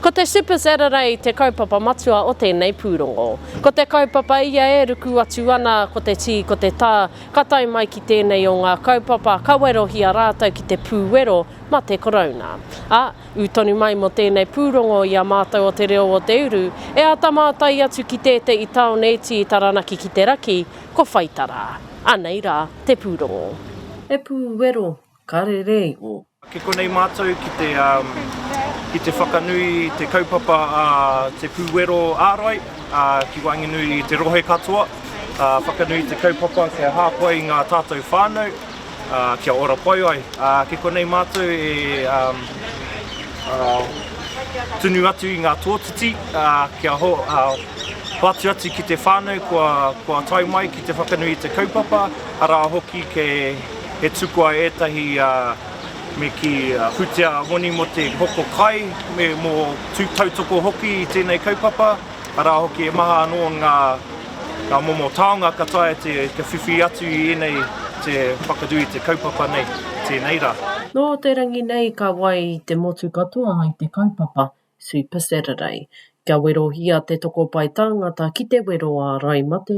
Ko te Super Saturday te kaupapa matua o tēnei pūrongo. Ko te kaupapa ia e ruku atu ana, ko te tī, ko te tā, ka tae mai ki tēnei o ngā kaupapa ka werohia rātou ki te pū wero ma te Korouna. A, ū tonu mai mo tēnei pūrongo i a mātou o Te Reo o Te Uru, e āta mātai atu ki tēte i Taonēti i Taranaki ki te raki, Ko Whaitara. Anei ra te pūrongo. He pūwero karere i o. Ki konei mātou ki te, ki te whakanui te kaupapa a Te Pūwero Ārai ki waenganui i te rohe katoa, whakanui te kaupapa kia hāpai i ngā tātou whānau, kia ora pai ai. Ki konei mātou e tunu atu i ngā tōtiti kia hoatu atu ki te whānau kua tae mai ki te whakanui i te kaupapa, arā hoki he tukua ētahi me kī pūtea moni mō te hoko kai me mō tautoko hoki i tēnei kaupapa. Arā hoki, he maha anō ngā momo taonga ka taea te whiwhi atu i ēnei te whakanui i te kaupapa nei, tēnei rā. Nō te rangi nei ka wai te motu katoa i te kaupapa Super Saturday. Kia werohia te toko pae tāngata ki te wero ārai mate,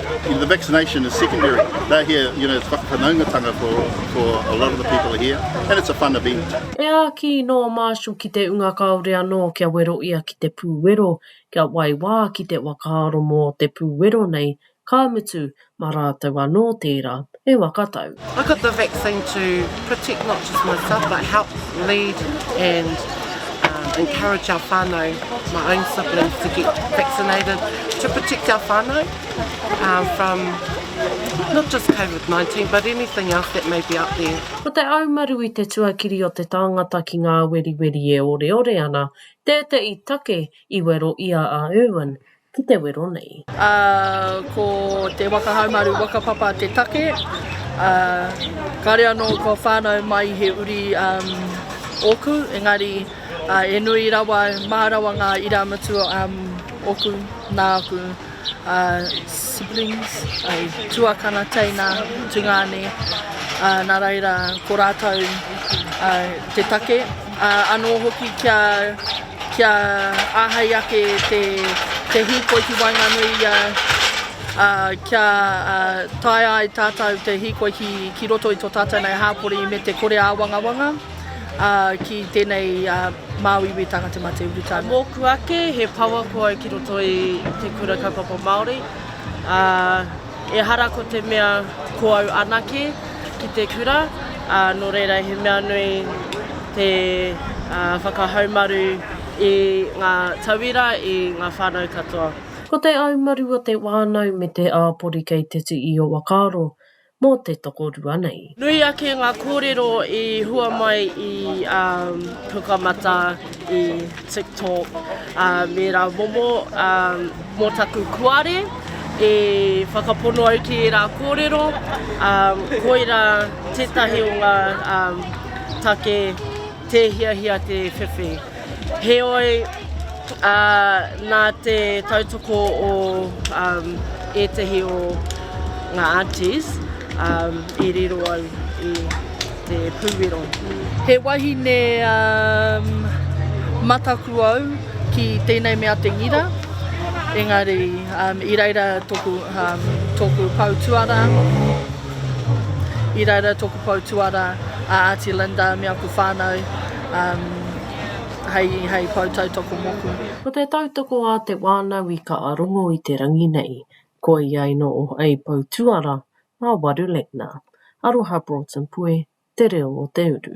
The vaccination is secondary. They're here, you know, it's whakawhanaungatanga for, for a lot of the people here. And it's a fun event. E āki nō a Marshall ki te unga kāore anō kia wero ia ki te pūwero, kia waiwā ki te whakaaro mō te pūwero nei, ka mutu, mā rātou anō tērā. e waka tau. I got the vaccine to protect not just myself but help lead and encourage our whānau, my own siblings to get vaccinated to protect our whānau uh, from not just COVID-19 but anything else that may be out there. Ko te aumaru i te tuakiri o te tāngata ki ngā weriweri e oreore ana, tēteʻi take i wero i a a Irwin, ki te wero nei. Ā, ko te waka haumaru whakapapa te take, ā, kāore anō kua whānau mai i he uri ōku, engari, ā, e nui rawa, mā rawa ngā irāmutu ōku, nā aku siblings, tuakana, teina, tungāne, ā, nā reira, ko rātou te take, ā, anō hoki kia. Kia āhei ake te hīkoi ki waenganui i a, ā, kia taea ai tātou te hīkoi ki roto i tō tātou nei hāpori me te kore āwangawanga ki tēnei māu iwi tānga te mate urutā. Mōku ake, he power ko au ki roto i te kura kaupapa Māori, ā. Ehara ko te mea ko au anake ki te kura, ā, nō reira he mea nui te whakahaumaru i ngā tauira, i ngā whānau katoa. Ko te aumaru o te wānau me te āpori kei te tū i o whakaaro mō te tokorua nei. Nui ake ngā kōrero i hua mai i Pukamata, i TikTok, me rā momo mō taku kuare e whakapono au ki ērā kōrero, koirā tētahi o ngā take tē hiahia te whiwhi. Heoi, ā, nā te tautoko o um, ētahi o ngā aunties um, i riro au i te pūwero. He wahine um, mataku au ki tēnei mea te ngira, engari um, i reira toku, um, toku pou tuara, i reira toku pou tuara a Āti Linda me aku whānau, hei pou tautoko moku. Ko te tautoko a te wānau i ka rongo i te rangi nei, koia i noho hei pou tuara ngā waru leina. Aroha Broughton Pue, Te Reo o Te Uru.